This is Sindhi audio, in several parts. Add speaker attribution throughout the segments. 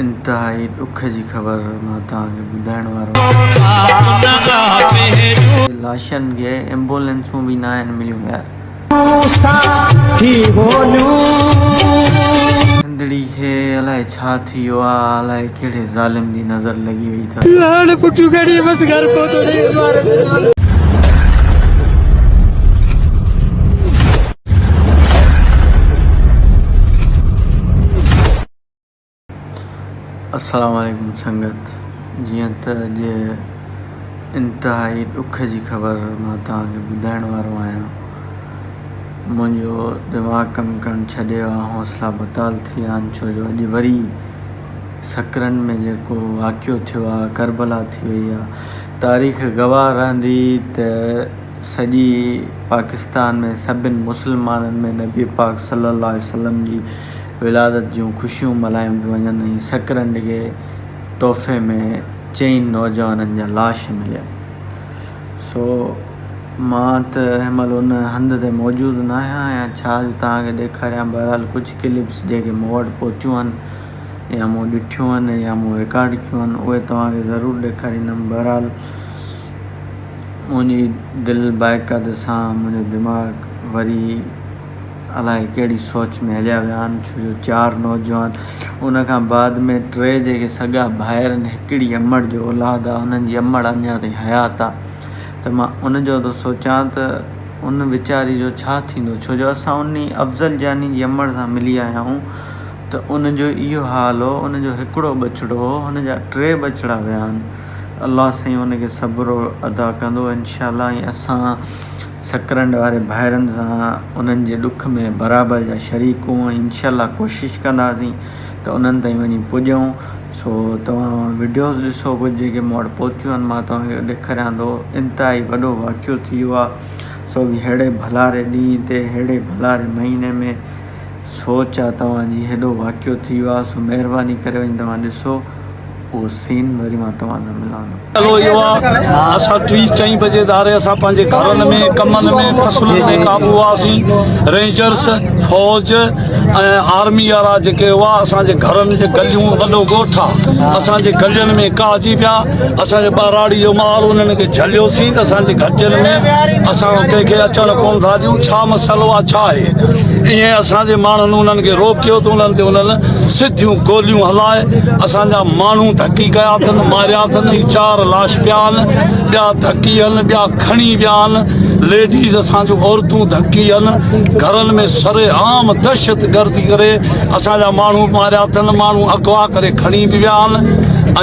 Speaker 1: انتهائي ڏک جي خبر مان توهان کي ٻڌائڻ وارو آهيان ته لاشن کي ايمبولينسون به ناهن مليون يار سنڌڙي کي الائي ڇا ٿي ويو آهي الائي ڪهڙي ظالم جي نظر لڳي وئي لاڙ پٽيون کڻي بس گهر پهتو ڏي عمارت السلام عليڪم سنگت جيئن ته اڄ انتهائي ڏک جي خبر مان توهان کي ٻڌائڻ وارو آهيان منهنجو دماغ ڪم ڪرڻ ڇڏي ويو آهي حوصلا بتال ٿي ويا آهن ڇو جو اڄ وري سکرن ۾ جيڪو واقعو ٿيو آ، ڪربلا ٿي وئي آ، تاريخ گواهه رهندي ته سڄي پاڪستان ۾ سڀني مسلمانن ۾ نبي پاڪ صلي الله عليه وسلم جي ولادت جون خوشيون ملهايون پيون وڃن ۽ سکرن ڏکي تحفي ۾ چئن نوجوانن جا لاش مليا سو مان ته هن مهل ان هنڌ تي موجود ناهيان ۽ ڇا جو توهان کي ڏيکاريان بهرحال ڪجهه ڪلپس جيڪي مون وٽ پهتيون آهن يا مون ڏٺيون آهن يا مون رڪارڊ ڪيون آهن اهي توهان کي ضرور ڏيکاريندم بهرحال منهنجي دل باعقد سان منهنجو دماغ وري الاء ڪهڙي سوچ ۾ هليا ويا آهن ڇو جو چار نوجوان ان کان بعد ۾ ٽي جيڪي سڳا ڀائر آهن هڪڙي امڙ جو اولاد آهي انهن جي امڙ اڃا تائين حيات آهي ته مان ان جو ٿو سوچان ته ان ويچاري جو ڇا ٿيندو ڇو جو اسان انهي افضل جاني جي امڙ سان ملي آيا آهيون ته ان جو اهو حال هو، ان جو هڪڙو ٻچڙو هو، هن جا ٽي ٻچڙا ويا آهن، الله سائين ان کي صبر عطا ڪندو انشاء الله ۽ اسان سڪرنڊ واري ڀائرن سان انهن جي ڏک ۾ برابر جا شريڪ هون ۽ انشاء الله ڪوشش ڪنداسين ته انهن تائين وڃي پڄون، سو توهان وڊيوز ڏسو ڪجهه جيڪي مون وٽ پهتيون آهن مان توهان کي ڏيکاريان ٿو، انتهائي وڏو واقعو ٿي ويو آهي، سو به ههڙي ڀلاري ڏينهن تي، ههڙي ڀلاري مهيني ۾. سو چا توهان جي هيڏو واقعو ٿي ويو آهي سو مهرباني ڪري وڃي توهان ڏسو اهو سين وري مان توهان سان ملان ٿو. مسئلو اهو آهي
Speaker 2: اسان ٽي چئين بجي ڌاري اسان پنهنجي گهرن ۾ ڪمن ۾ فصلن ۾ قابو هئاسين رينجرس فوج ۽ آرمي وارا جيڪي هئا اسان جي گهرن جي گليون وڏو ڳوٺ آهي اسان جي گلين ۾ ڪاهجي پيا اسان جي ٻهراڙي جو مال انهن کي جهليوسين ته اسان جي گهٽين ۾ اسان ڪنهن کي اچڻ ڪونه ٿا ڏيون ڇا مسئلو آهي ڇا آهي ائين اسان جي ماڻهن انهن کي روڪيو ته انهن تي انهن سڌيون گوليون هلائي اسان جا ماڻهو ڌڪي ڪيا اٿن ماريا اٿن هي چار لاش پيا آهن ٻيا ڌڪي آهن ٻيا کڻي ويا آهن ليڊيز اسان جون عورتون ڌڪي آهن گهرن ۾ سري عام دهشت گردي ڪري اسان جا ماڻهو ماريا اٿن ماڻهو اغوا ڪري کڻي به ويا آهن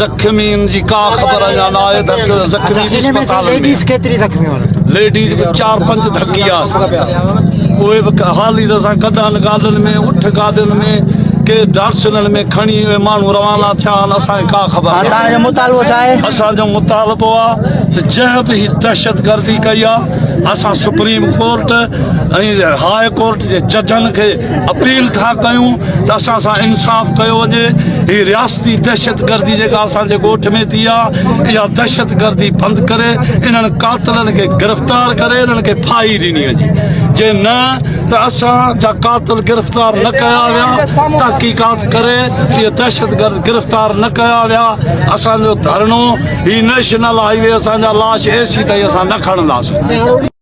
Speaker 2: زخمين جي ڪا خبر اڃا نه آهي ليڊيز به چار پنج ڌڪي آهي اهي به حالي طرح سان گڏهن گاڏين ۾ اٺ گاڏين ۾ ڪي ڊارسلن ۾ کڻي اهي ماڻهو روانا ٿيا آهن اسانکي ڪا خبر آهي اسان جو مطالبو ڇا آهي اسان جو مطالبو آهي ته جنهن به هي دهشت گردي ڪئي آهي اسان سپريم ڪورٽ ۽ هاء ڪورٽ جي ججن کي اپيل ٿا ڪيون ته اسان سان انصاف ڪيو وڃي هي رياستي دهشتگردي جيڪا اسان جي ڳوٺ ۾ ٿي آهي اها دهشتگردي بند ڪري انهن قاتلن کي گرفتار ڪري انهن کي ڦاهي ڏني وڃي جي نه ته اسان جا قاتل گرفتار نه ڪيا ويا تحقيقات ڪري اهي دهشتگرد گرفتار نه ڪيا ويا اسان جو ڌرڻو هي نيشنل هاء وي اسان جا لاش ايسي تائين اسان نه کڻنداسين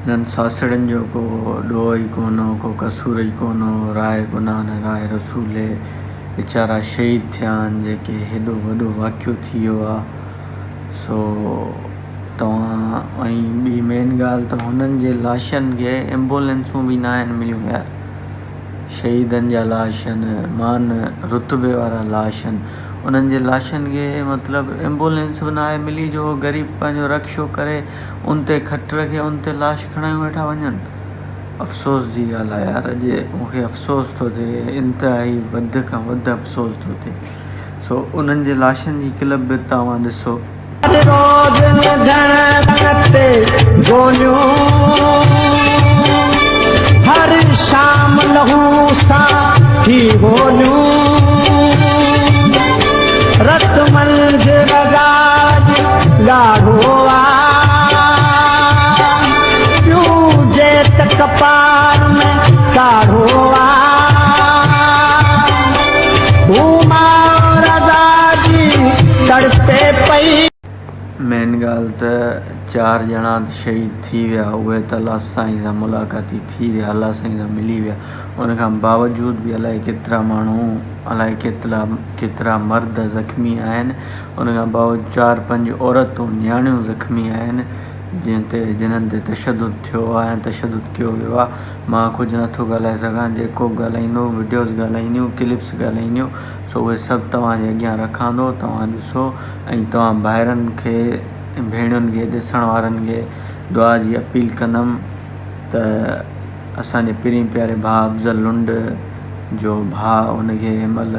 Speaker 1: انهن ساسڙين جو ڪو ڏوهه ئي ڪونه هو، ڪو قصور ئي ڪونه هو، راء گناهه نه راء رسول هي، ويچارا شهيد ٿيا آهن، جيڪي هيڏو وڏو واقعو ٿي ويو آ، سو توهان ۽ ٻي مين ڳالهه ته هنن جي لاشن کي ايمبولينسون به ناهن مليون يار، شهيدن جا لاش هن مان رتبي وارا لاش هن، انهن جي لاشن کي مطلب ايمبولينس به ناهي ملي جو غريب پنهنجو رڪشو ڪري. ان تي کٽ رکي ان تي لاش کڻايون ويٺا وڃن. افسوس جي ڳالهه آهي يار اڄ مون کي افسوس ٿو ٿئي انتهائي وڌ کان وڌ افسوس ٿو ٿئي سو انهن جي لاشن جي ڪلپ به توهان ڏسو. هر روز وڌڻ رن تي
Speaker 3: گوليون هر شام لهو سان ٿي هوليون رت منجهه رڳا اڄ ڳاڙهو آ
Speaker 1: ٻيون جيت ڪپار ۾ ڪاڙهو آ هو ماء رضا جي تڙپي پئي. مين ڳالهه ته چار ڄڻا ته شهيد ٿي ويا اهي ته الله سائين سان ملاقاتي ٿي ويا الله سائين سان ملي ويا ان کان باوجود به الائي ڪيترا ماڻهو الائي ڪيترا مرد زخمي آهن ان کان باوجود چار پنج عورتون نياڻيون زخمي آهن جنهن تي جنن تي تشدد ٿيو آهي ۽ تشدد ڪيو ويو آهي مان ڪجهه نٿو ڳالهائي سگهان جيڪو به ڳالهائيندو وڊيوز ڳالهائينديون ڪلپس ڳالهائينديون سو اهي سڀ توهان جي اڳيان رکان ٿو توهان ڏسو ۽ توهان ڀائرن کي ۽ ڀيڻين کي ڏسڻ وارن کي دعا جي اپيل ڪندم ته اسان جي پرين پياري ڀاء افضل لنڊ جو ڀاء ان کي هن مهل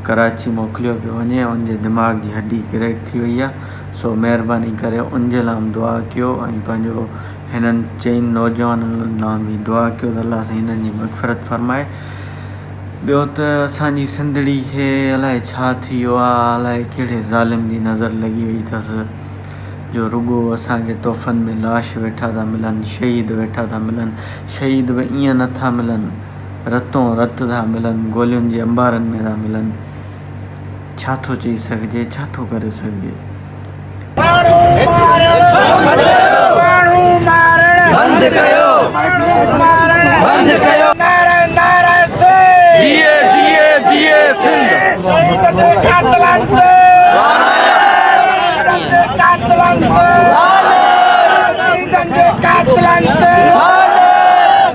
Speaker 1: ڪراچي موڪليو پيو وڃي ان جي دماغ جي هڏي ڪريڪ ٿي وئي آ سو مهرباني ڪري ان جي لام دعا ڪيو ۽ پنهنجو هنن چئن نوجوانن لام به دعا ڪيو ته الله سائين هنن جي مغفرت فرمائي ٻيو ته اسان جي سنڌڙي کي الائي ڇا ٿي ويو آ الائي ڪهڙي ظالم جي نظر لڳي وئي ٿس جو رڳو اسان کي تحفن ۾ لاش ويٺا ٿا ملن شهيد ويٺا ٿا ملن شهيد به ائين نه ٿا ملن رتون رت ٿا ملن، گولين جي انبارن ۾ ٿا ملن، ڇا ٿو چئي سگهجي، ڇا ٿو ڪري سگهجي.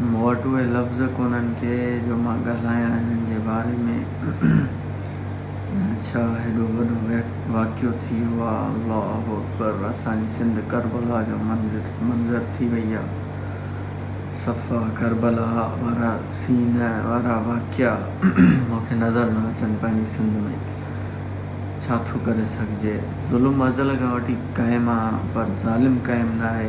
Speaker 1: مون وٽ اهي لفظ ڪونهن ڪي جو مان ڳالهايان انهن جي باري ۾ ڇا هيڏو وڏو واقعو ٿي ويو آ الله اڪبر اسان جي سنڌ ڪربلا جو منظر ٿي وئي آ صفا ڪربلا وارا سين وارا واقعا مون کي نظر نه اچن پنهنجي سنڌ ۾ ڇا ٿو ڪري سگهجي ظلم ازل کان وٺي قائم آ پر ظالم قائم ناهي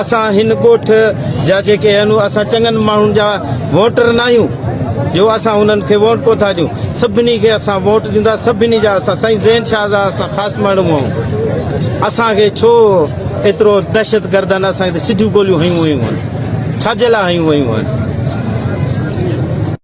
Speaker 4: اسان هن ڳوٺ جا جيڪي آهيون اسان چڱن ماڻهن جا ووٽر نه آهيون جو اسان انهن کي ووٽ ڪو ٿا ڏيون سڀني کي اسان ووٽ ڏيندا سڀني جا اسان سائين زين شاهه جا اسان خاص ماڻهون آهيون اسان کي ڇو ايترو دهشت گردن اسان کي سڌيون گوليون هنيون ويون آهن ڇا جي لاء هنيون ويون آهن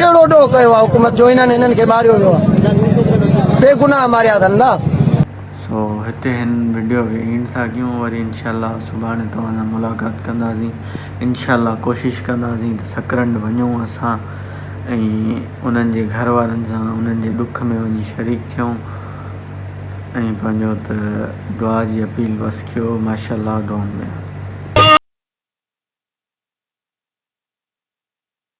Speaker 5: ڪهڙو ڏوهه
Speaker 1: ڪيو آهي حڪومت جو هنن هنن کي ماريو ويو آهي بيگناهه ماريا اٿن نه. سو هتي هن وڊيو کي اينڊ ٿا ڪيون وري انشاء الله سڀاڻي توهان سان ملاقات ڪنداسين انشاء الله ڪوشش ڪنداسين ته سڪرنڊ وڃون اسان ۽ انهن جي گهر وارن سان انهن جي ڏک ۾ وڃي شريڪ ٿيون ۽ پنهنجو ته دعا جي اپيل بس ڪيو ماشاء الله دعائن ۾ ياد.